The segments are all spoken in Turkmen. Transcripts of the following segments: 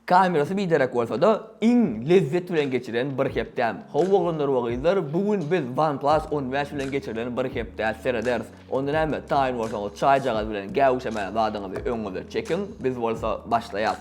Kamerasy biderek bolsada iň lezzet bilen geçiren bir hepdäm. How oglanlar we gyzlar bu gün biz OnePlus on bäş bilen geçirilen bir hepdä serederis. Onda näme taýyn bolsaňyz çaýjagaz bilen gäwüşemän zadyňyzy öňüňize çekiň biz bolsa başlaýas.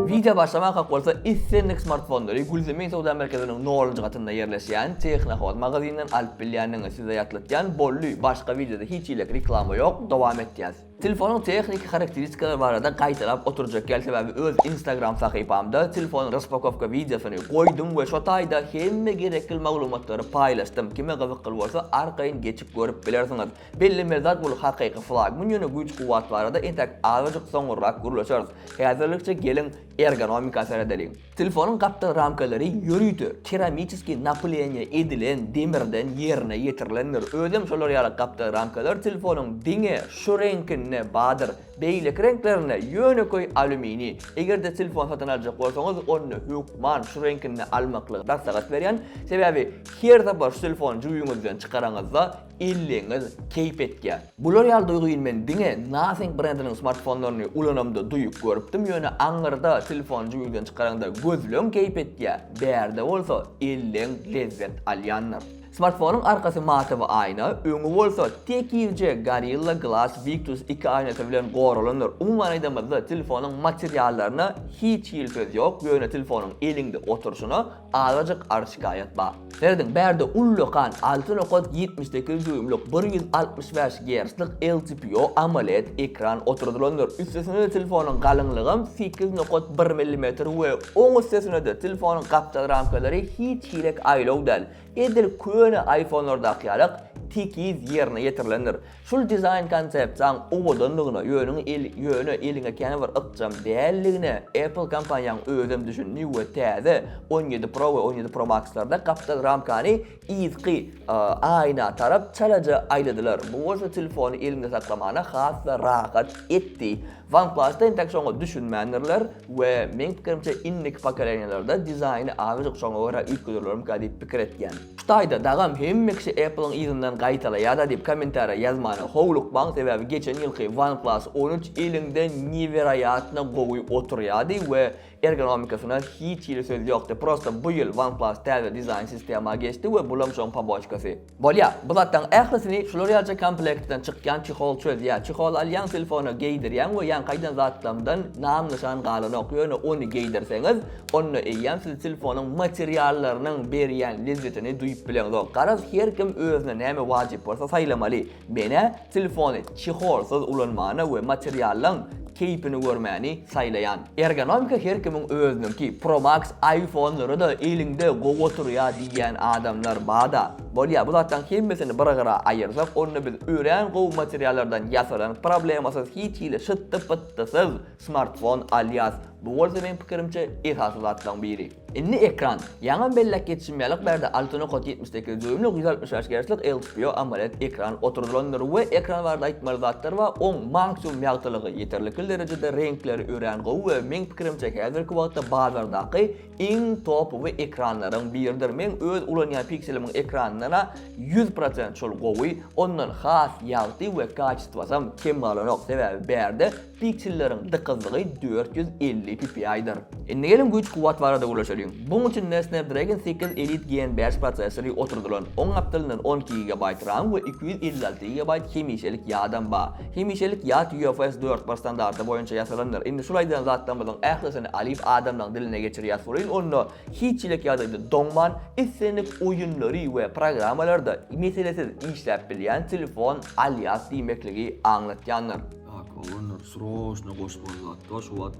Wideo başlamakak bolsa islendik smartfonlary Gülzemin söwda merkeziniň nolunjy gatynda ýerleşýän Tehnohood magazinden alyp bilýändiňiz. Size ýatlatýan bolly başga wideoda hiç hile reklama ýok dowam etýäs. Telefonyň tehniki harakteristikalary barada gaýtalap oturjak ýaly sebäbi öz instagram sahypamda telefonyň raspakowka wideosyny goýdum we şo taýda hemme gerekil maglumatlary paýlaşdym kime gyzykly bolsa arkaýyn geçip görüp bilersiňiz. Bellemeli zat bul hakyky flagman ýöne güýç kuwwat barada entäk azajyk soňurrak gürleşeris. Häzirlikçe geliň ergonomika seredeliň. Telefonyň gapdal ramkalary ýörite, keramiçeskiý napyleniýe edilen demirden ýerine ýetirilendir. Özem şolar ýaly gapdal ramkalar telefonyň diňe şu reňkinde bardyr. Beýleki reňklerinde ýönekeý alýuminiý. Eger-de telefon satyn aljak bolsaňyz, onda hökman şu reňkinde almaklygy maslahat berýän. Sebäbi her sapar şu telefony jübiňizden çykaraňyzda, Elleňiz keýp etýär. Bular ýaly duýgyny men diňe Nothing brendiniň smartfonlaryny ulanamda duýup görüpdim, ýöne aňyrda telefony jübüňden çykaraňda gözleň keýp etýär, bärde bolsa elleň lezzet alýandyr. Smartfonyň arkasy matawy aýna, öňi bolsa tekizje Gorilla Glass Victus iki aýnasy bilen goralandyr. Umuman aýdanymyzda telefonyň materiallaryna hiç hili söz ýok, ýöne telefonyň eliňde oturşyna azajyk arz-şikaýat bar. Serediň, bärde ullakan alty nokat ýetmiş sekiz dýuýmlyk bir ýüz altmyş bäş gerclik LCPO AMOLED ekran oturdylandyr. Üstesine-de telefonyň galyňlygam sekiz nokat bir millimetr we oň üstesine-de telefonyň gapdal ramkalary hiç hirek aýlaw däl, edil köne iPhone-lardaky ýalak tekiz ýerine ýetirilendir. Şul dizaýn konsepsiýaň owadanlygyna, ýöne eliňe kän bir ykjam däldigine Apple kompaniýaň özem düşündi we täze on ýedi Pro we on ýedi Pro Max-larda gapdal ramkany yzky aýna tarap çalaja aýladylar, bu bolsa telefony eliňde saklamana has-da rahat etdi. OnePlus-da entek şoňa düşünmändirler we meň pikirimçe indiki pokoleniýalarda dizaýny azajyk şoňa görä üýtgederlermika diýip pikir etýän. Şu taýda dagam hemme kişi Apple-yň yzyndan gaýtalaýada diýip kommentariýa ýazmana howlukmaň sebäbi geçen ýylky OnePlus on üç eliňde neweroýatno gowy oturýady we ergonomikasyna hiç hili söz ýokdy prosta bu ýyl OnePlus täze dizaýn sistema geçdi we bulam şoň poboçkasy bolýa bu zatlaň ählisini şular ýalyja komplektden çykýan çehol çözýä çehol alýaň telefona geýdirýäň we ýaňkaýdan zatlaňdan nam nyşan galanok ýöne ony geýdirseňiz Onda eýýäm siz telefonyň materiallarynyň berýän lezzetini duýup bileňzok. Garaz, her kim özüne näme wajyp bolsa saýlamaly. Men-ä telefony çeholsyz ulanmany we materiallaň keýpini görmäni saýlaýan. Ergonomika her kimiň özüniňki. Pro Max iPhone-lara-da eliňde gowy oturýar diýýän adamlar bar-da. Bolýar, bu zatlaryň hemmesini bir gyra aýyrsak, onda biz örän gowy materiallardan ýasalan problemasyz hiç hili şytdy-pytdysyz, Smartfon, alýas, bu bolsa meň pikirimçe esasy zatlaryň biri. Indi ekran. Ýaňam belläp geçişim ýaly bärde Altono Kod ýetmiş sekiz dýuýmlyk ýüz altmyş bäş gerçlik LCPO AMOLED ekran oturdylandyr we ekran barada aýtmaly zatlar bar oň manksimum ýagtylygy ýeterlikli derejede reňkleri örän gowy we meň pikirimçe häzirki wagtda bazardaky iň topowy ekranlaryň biridir meň öz ulanýan pikselimiň ekranynana ýüz prosent şol gowy ondan has ýagty we kaçestwasam kem galanok sebäbi bärde Pikçilleriň dykyzlygy dört ýüz elli ppi-dir. Indi geliň güýç-kuwwat barada gürleşeliň. Buň üçin-de Snapdragon sekiz Elite Gen bäş prosessory oturdylan. Oň gapdalyndan on iki gigabaýt ram we iki ýüz elli alty gigabaýt hemişelik ýadam bar. Hemişelik ýad UFS dört bir standarty boýunça ýasalandyr. Indi şul aýdan zatlarymyzyň ählisini alyp adamlaryň diline geçirýäs welin onda hiç çilek ýagdaýda doňman, islendik oýunlary we programmalary-da meselesiz işläp bilýän telefon alýas diýmekligi aňlatýandyr. Ak olanlar sroçno goşmaly zatda şu wagt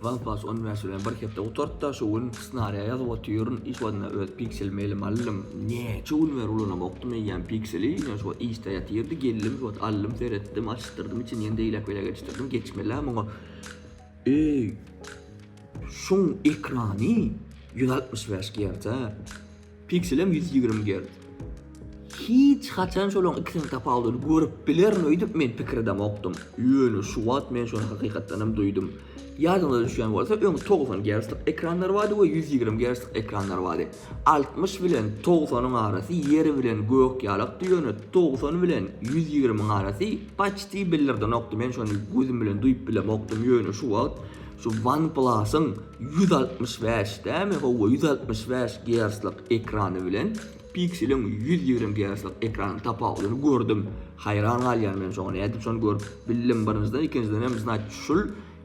OnePlus 15 bilen bir hepde gutartda şu gün snariya ýazyp otyryn iş wagtynda öz piksel mailim aldym neçe gün beri ulanam okdum eýýäm pikseli ýöne şu wagt işde ýatyrdy geldim şu wagt aldym seretdim açyşdyrdym içini ýene deýlek beýlek geçişdirdim geçmeli muňa eý şuň ekrany 165 Hz Pikselem ýüz ýigrimi gerc. Hiç haçan şolaň ikisiniň tapawudyny görüp bilerin öýdüp men pikir edemokdym. Ýöne şu wagt men şony hakykatdanam duýdum. Ýadyňyza düşýän bolsa öň togsan gerclik ekranlar bardy we ýüz ýigrimi gerclik ekranlar bardy. Altmyş bilen togsanyň arasy ýer bilen gök ýalakdy ýöne togsan bilen ýüz ýigrimiň arasy paçti bildirdenokdy men şony gözüm bilen duýup bilemokdym ýöne şu wagt Şu OnePlus-yň ýüz altmyş bäş dämi, hawa, ýüz altmyş bäş gerclik ekrany bilen Pixel-iň ýüz ýigrimi gerclik ekranynyň tapawudyny gördüm. Haýran galýan men şoňa. Nädip şony görüp bildim, birinjiden, ikinjiden hem, znaç, şul,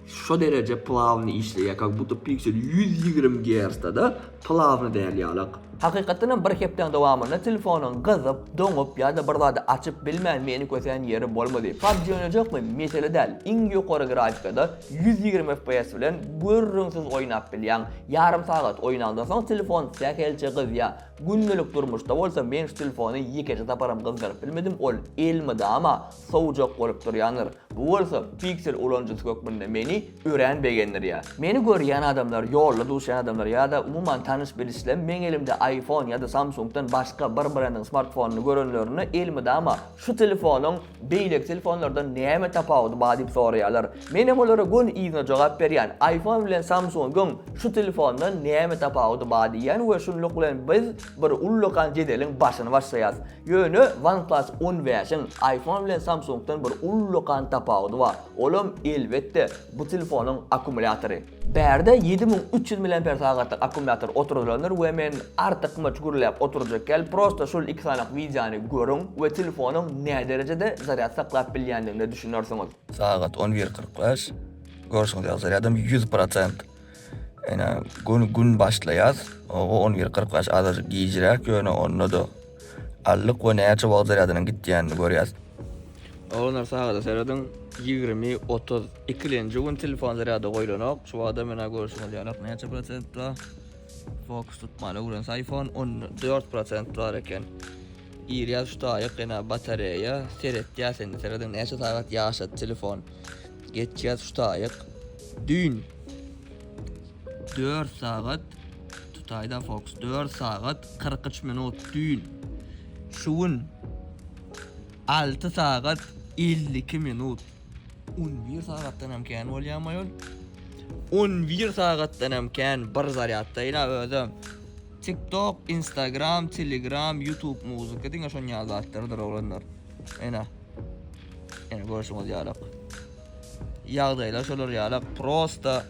şo dereje plawny işleýär, kak budda Pixel ýüz ýigrimi gercda-da, Pylawny däl ýalak. Hakykatdan hem bir hepdäň dowamynda telefonyň gyzyp, doňup ýa-da bir zady açyp bilmän meni kösen ýeri bolmady. Pubg oýnajakmy? Mesele däl. Iň ýokary grafikada ýüz ýigrimi fps bilen gürrüňsiz oýnap bilýäň. Ýarym sagat oýnandan soň telefon sähelçe gyzýar. Gündelik durmuşda bolsa men şu telefony ýekeje saparam gyzdyryp bilmedim, ol elmydama sowjak bolup durýandyr. Bu bolsa Pixel ulanyjysy hökmünde meni örän begendirýär. Meni görýän adamlar, ýolda duşýan adamlar ýa-da umuman tanyş-bilişler meň elimde iPhone ýa-da Samsung-dan başga bir brendiň smartfonyny görenlerinde elmydama şu telefonyň beýleki telefonlardan näme tapawudy bar diýip soraýarlar. Men hem olara göni yzyna jogap berýän, iPhone bilen Samsung-yň şu telefondan näme tapawudy bar diýýän we şunluk bilen biz bir ullakan jedeliň başyny başlaýarys. Ýöne OnePlus on bäşiň iPhone bilen Samsung-dan bir ullakan tapawudy bar. Olam elbetde bu telefonyň akkumulýatory. Bärde ýedi müň üç ýüz miliamper sagatlyk akkumulýator oturdylandyr we men artykmaç gürläp oturjak däl, prosta şol iki sanyk wideony görüň we telefonyň näderejede zarýad saklap bilýändigine düşünersiňiz. Sagat on bir kyrk bäş. Görşüňiz ýaly zarýadym ýüz prosent. Ene gün gün başlaýas. Oga 11.45 azajyk gijräk ýöne onda-da allyk we näçe wagt zarýadynyň gitýänini görýäs. Oglanlar sagada serediň, ýigrimi, otuz ikilenji gün telefon zarýada goýlanok. Şu wagta menä görşüňiz ýalak näçe prosent bar. Fokus tutman öwrense iPhone on dört prosent bar eken. Girýäs şu taýyk ene batareýa seretýäs indi serediň näçe sagat ýaşady telefon. Geçýäs şu taýak düýn. Dört sagat tutaýda fokus dört sagat kyrk üç minut düýn. Şu gün alty sagat elli iki minut. On bir sagatdan hem kän bolýamy ýol? On bir sagatdan hem kän bir zarýaddaýyn-a özem. Tiktok, Instagram, Telegram, Youtube muzika diňe şon ýaly zatlardyr oglanlar. Ene. Ene görşüňiz ýalak. Ýagdaýlar şolar ýalak. Prosta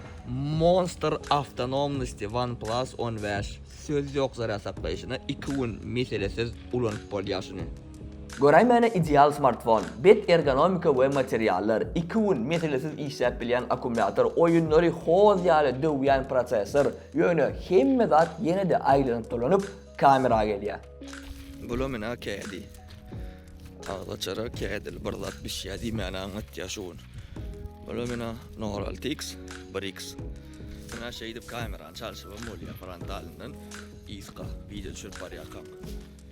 monster awtonomnosti OnePlus 15. Söz ýok zarýad saklaýşyna 2 gün meselesiz ulanyp bolýar şuny. Göräýmäne ideal smartfon. Bet ergonomika we materiallar, 2 gün meselesiz işläp bilýän akkumulýator, oýunlary hoz ýaly döwýän prosessor, ýöne hemme zat ýene-de aýlanyp dolanyp kamera gelýär. Bulam ine kädi. Agzaçara kädil bir zat bişýär diýmäni aňlatýar şu gün. Ola mena Noraltix 1X. Mena şeýdip kamerany çalşybam bolýar frontalyndan yzka wideo düşürip barýarkam.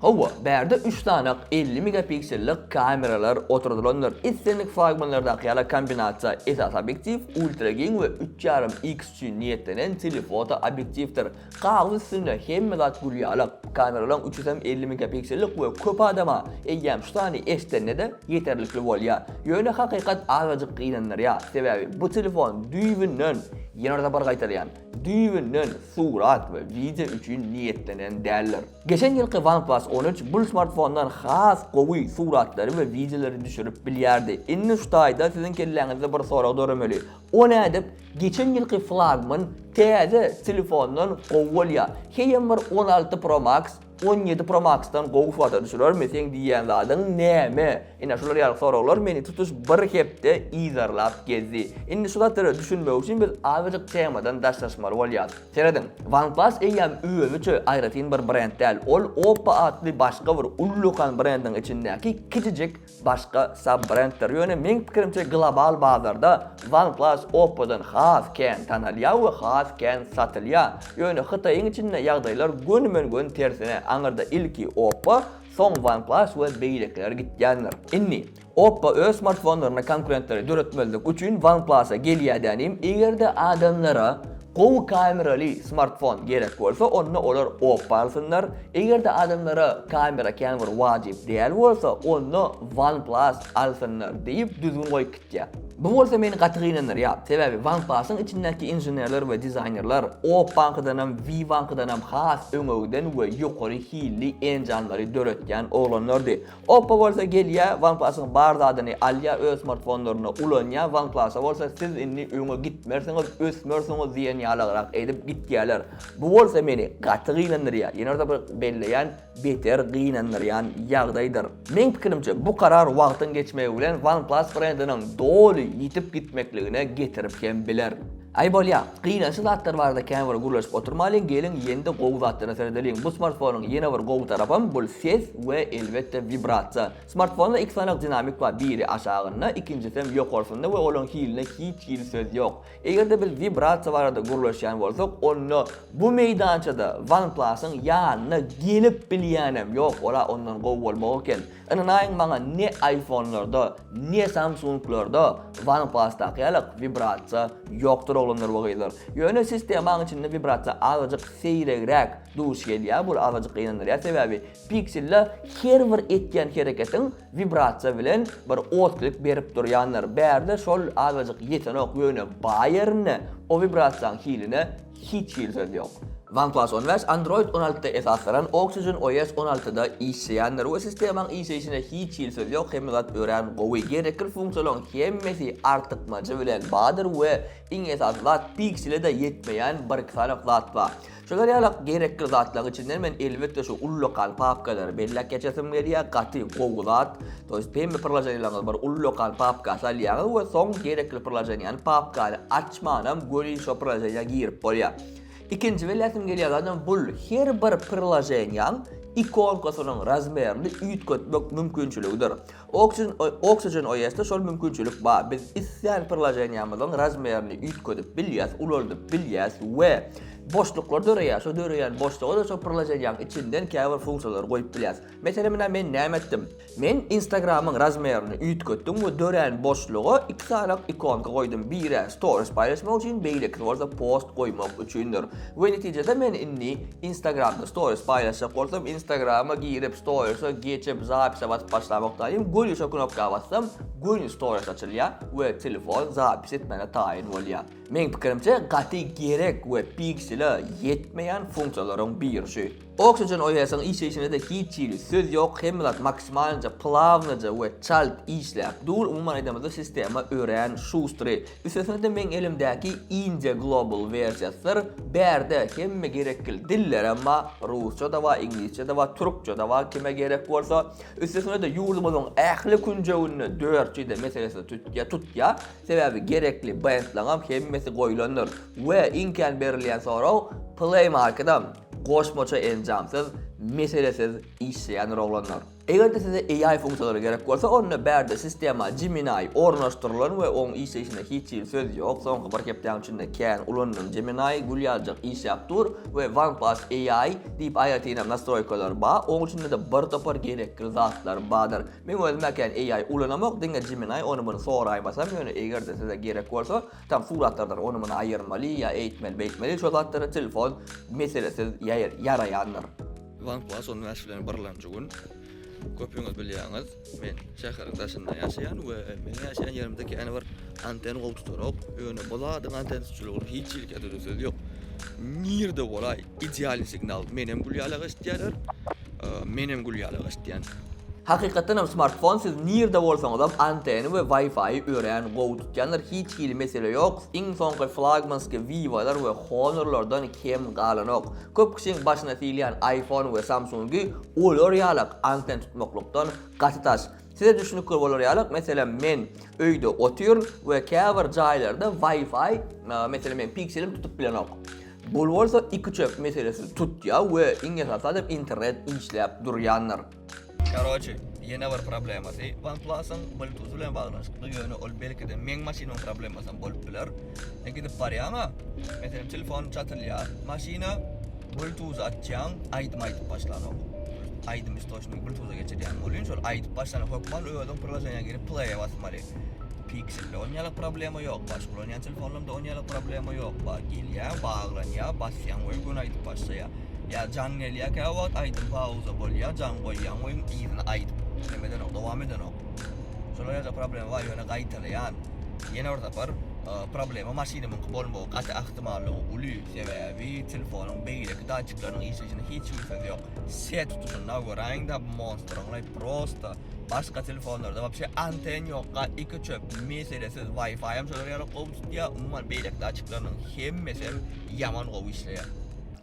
Hawa, bärde üç sanak elli megapiksellik kameralar oturdylandyr. Islendik flagmanlardaky ýaly kombinasiýa esasy obýektiw, ultragiň we üç ýarym X üçin niýetlenen telefoto obýektiwdir. Galyň üstünde hemme zat gül ýalak. Kameralaň üçüsem elli megapiksellik we köp adama eýýäm şu sany eşdenede ýeterlikli bolýa. Ýöne hakykat azajyk gynandyrýa, sebäbi bu telefon düýbünden, ýene-de bir gaýtalýan, düýbünden surat we wideo üçin niýetlenen däldir. Geçen ýylky OnePlus on üç bul smartfondan has gowy suratlary we wideolary düşürip bilýärdi. Indi şu taýda siziň kelläňizde bir sorag döremeli, O nädip geçen ýylky flagman täze telefondan gowy bolýa. Heýem bir on alty pro max on ýedi pro max-dan gowy foto düşürermi seň diýýän zadyň näme? Ine şular ýaly soraglar meni tutuş bir hepde yzarlap gezdi. Indi şu zatlara düşünmek üçin biz azajyk temadan daşlaşmaly bolýas. Serediň, OnePlus eýýäm özüçe aýratyn bir brend däl, ol Oppo atly başga bir ullakan brendiň içindäki kiçijik başga sub-brendler, ýöne meň pikirimçe global bazarda OnePlus Oppo-dan has kän tanalýar we has kän satylýar. Ýöne Hytaýyň içinde ýagdaýlar gönümen-gön tersine, aňyrda ilki Oppo, soň OnePlus we beýlekiler gitýändir. Indi, Oppo öz smartfonlaryna konkurentleri döretmezlik üçin OnePlus-a gelýär dänim, eger-de adamlara gowy kameraly smartfon gerek bolsa, onda olar Oppo alsynlar, Eger-de adamlara kamera kän bir wajyp däl bolsa, onda OnePlus alsynlar diýip düzgün goýup gitýär. Bu bolsa meni gaty gynandyrýar. Sebäbi OnePlus-yň içindäki inženerler we dizaýnerler Opbank-danam, Vivank-danam has öňegiden we ýokary hilli enjamlary döretýän oglanlardy. Oppo bolsa gelýä OnePlus-yň bar zadyny alýa öz smartfonlarynda ulanýa OnePlus-a bolsa siz indi öňe gitmersiňiz ösmersiňiz diýen ýalygrak edip gitýäler bu bolsa meni gaty gynandyrýa ýene-de bir belleýän beter gynandyrýan ýagdaýdyr meň pikirimçe bu karar wagtyň geçmegi bilen OnePlus brendiniň doly ýitip gitmekligine getirip hem biler. Aý bolýa, gynansy zatlar barada kän bir gürleşip oturmalyň, geliň ýende gowy zatlara seredeliň. Bu smartfonyň ýene bir gowy tarapam, bul ses we elbetde wibrasiýa. Smartfonda iki sany dinamik bar, biri aşagynda, ikinjisem ýokarsynda we olaň hiline hiç hili söz ýok. Eger-de biz wibrasiýa barada gürleşýän bolsak, onda bu meýdançada OnePlus-yň ýanyna gelip bilýänem ýok, ol-a ondan gowy bolmagy eken. Ynanaýyň maňa ne aýfonlarda, ne samsunglarda wanpasdaky ýaly wibrasiýa ýokdur oglanlar we gyzlar. Ýöne sistemaň içinde wibrasiýa azajyk seýregräk duş gelýär, bu azajyk gynandyrýar, sebäbi pikselde her bir etýän hereketiň wibrasiýa bilen bir otklip berip durýandyr. Bärde şol azajyk ýetenok, ýöne baý ýerinde o wibrasiýaň hiline Hiç hili söz ýok. OnePlus on bäş Android on altyda esaslanan Oxygen OS on altyda işleýändir we sistemaň işleýşine hiç hili söz ýok, hemme zat örän gowy. Gerekli funksiýalaryň hemmesi artykmajy bilen bardyr we iň esasy zat Pixel-e-de ýetmeýän bir-iki sany zat bar. Şolar ýaly gerekli zatlaryň içinden men elbetde şu ullakan papkalary belläp geçesim gelýär, gaty gowy zat. To ýest hemme priloženiýalaryňyzy bir ullakan papka salýaňyz we soň gerekli priloženiýany, papkany aç, açmanam göni şo priloženiýa girip bolýar. Ikinji bilýäsim gelýär zadam bul her bir priloženiýaň ikonkasynyň razmerini üýtgetmek mümkinçiligidir. Oxygen Oxygen OS-da şol mümkinçilik bar, biz islän priloženiýamyzyň razmerini üýtgedip bilýäs, ulaldyp bilýäs we boşluklar döreýär, şo döreýän boşluga-da şo priloženiýaň içinden käbir funksiýalary goýup bilýäs. Mesele menä men näme etdim? Men Instagramyň razmerini üýtgetdim we dörän boşluga iki sany ikonka goýdum, biri stories paýlaşmak üçin, beýlekisi bolsa post goýmak üçindir. We netijede men indi Instagramda stories paýlaşjak bolsam, Instagrama girip, storiese geçip, zapise basyp başlamokdaýyn, göni şo knopka bassam, göni stories açylýar we telefon zapis etmäne taýyn bolýar. Meň pikirimçe, gaty gerek we piksele ýetmeýän funksiýalaryň biri şu. Oksigen OS-iň işleýşine-de hiç hili söz ýok, hemme zat maksimalnja plawnyja we çalt işläp dur, umuman aýdamyzda sistema örän şustry. Üstesine-de meň elimdäki inje global wersiýasydyr, bärde hemme gerekgil dillerem bar, rusça-da bar, iňlisçe-de bar, türkçe-de bar kime gerek bolsa. Üstesine-de ýurdumyzyň ähli künjeginde dört jide meselesi tutýar, tutýar, sebäbi gerekli bendlaňam hemmesi goýlandyr we iň kän berilýän sorag Play Market-am. Goşmaça enjamsyz, meselesiz işleýändir oglanlar. Eger-de size AI funksiýalary gerek bolsa, onda bärde sistema Gemini ornaşdyrylan we oň işleýşinde hiç hili söz ýok. Soňky bir hepdäň içinde kän ulandyň Gemini, gül ýaljak işläp dur we OnePlus AI diýip aýratynam nastroýkalar ba, oň içinde-de bir topar gerekli zatlar badyr. Men özüm-ä kän AI ulanamok, diňe Gemini ony-muny soraýmasam, ýöne eger-de size gerek bolsa, Tam suratlardan ony-muny aýyrmaly ýa eýtmeli, beýtmeli şo zatlary telefon meselesiz ýaraýandyr. Wang Hua şol näşe bilen birlamjy gün, Köpüňiz bilýäňiz, men şäheriň daşynda ýaşaýan we meniň ýaşaýan ýerimde kän bir anten gowy tutanok. Ýöne bu zadyň anten tutujylygyny hiç hili kädüri söz ýok. Nirede bolaý, idealny signal, menem gül ýalak eşidýärler. Menem gül ýaly gaçdýan. Hakykatdan hem smartfon siz nirde bolsaňyzam anteny we wi-fi örän gowy tutýandyr hiç hili mesele ýok iň soňky flagmansky vivolar we honorlardan kem galanok köp kişiň başyna silýän iphone we samsungy olar ýalak anten tutmaklykdan gaty daş Size düşnükli bolar ýaly, meselem, men öýde otyryn we käbir jaýlarda Wi-Fi, meselem, meniň pikselim tutup bilenok. Bul bolsa iki çep meselesini tutýar we iň esasy zat hem internet işläp durýandyr. Karoçi, ýene bir problemasy, OnePlus-yň Bluetooth bilen baglanyşykly, ýöne ol belki-de meň maşynymyň problemasyam bolup biler. E gidip barýaňa, meselem telefonyň çatylýar, maşyna bluetooth açýaň, aýdym aýdyp başlanok. Aýdymy istoçnigi bluetooth-a geçirýän bolýun, şol aýdyp başlanak hökman özüň priloženiýa girip play-e basmaly. Pixel-de on ýaly problema ýok, başga ulanýan telefonlarymda on ýaly problema ýok, bar gelýä, baglanýa, basýaň we göni aýdyp başlaýa. Ýa jaň gelýä käwagt, aýdym pauza bolýa, jaň goýýaň we yzyna aýdyp näme edenok, dowam edenok. Şolar ýerde problema bar ýöne gaýtalaýan. Ýene bir sapar problema maşynymyňky bolmagy gaty ahtimallygy uly, sebäbi telefonuň beýleki datçiklarynyň işleýşine hiç hili söz ýok. Set tutuşynda göräýiňdä bu monstryňlaý prosta başga telefonlarda wapşe anten ýok ga iki çöp meselesiz waýfaýam şolar ýaly gowy tutýa umuman beýleki datçiklarynyň hemmesem ýaman gowy işleýä.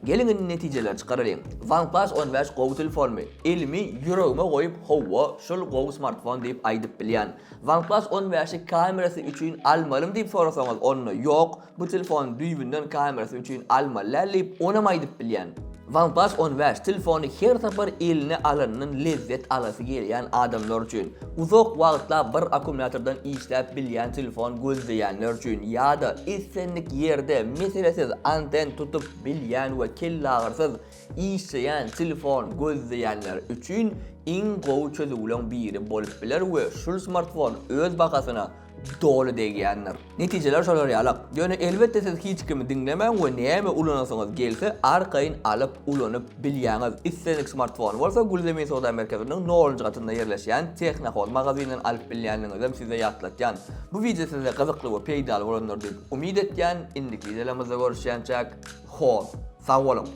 Geliň indi netijeleri çykaralyň. OnePlus on bäş gowy telefonmy? Elimi ýüregime goýup howwa şul gowy smartfon diýip aýdyp bilýän. OnePlus on bäşi kamerasy üçin almalymy diýip sorasaňyz onda ýok bu telefony düýbünden kamerasy üçin almaly däl diýip onam aýdyp bilýän. OnePlus on bäş telefony her sapar eline alandan lezzet alasy gelýän adamlar üçin, uzak wagtlap bir akkumulýatordan işläp bilýän telefon gözleýänler üçin ýa-da islendik ýerde meselesiz anten tutup bilýän we kellagyrysyz işleýän telefon gözleýänler üçin iň gowy çözüwleň biri bolup biler we şul smartfon öz bahasyna doly degýändir. Netijeler şolar ýaly. Ýöne elbetde siz hiç kimi diňlemäň we näme ulanasyňyz gelse arkaýyn alyp ulanyp bilýäňiz. Islendik smartfony bolsa Gülzemin söwda merkeziniň nolunjy gatynda ýerleşýän Technohoz magazinden alyp bilýänligiňizem size ýatlatýan. Bu wideo size gyzykly we peýdaly bolandyr diýip umyt etýän. Indiki wideolarymyzda görüşýänçäk. Hoz. Sag boluň.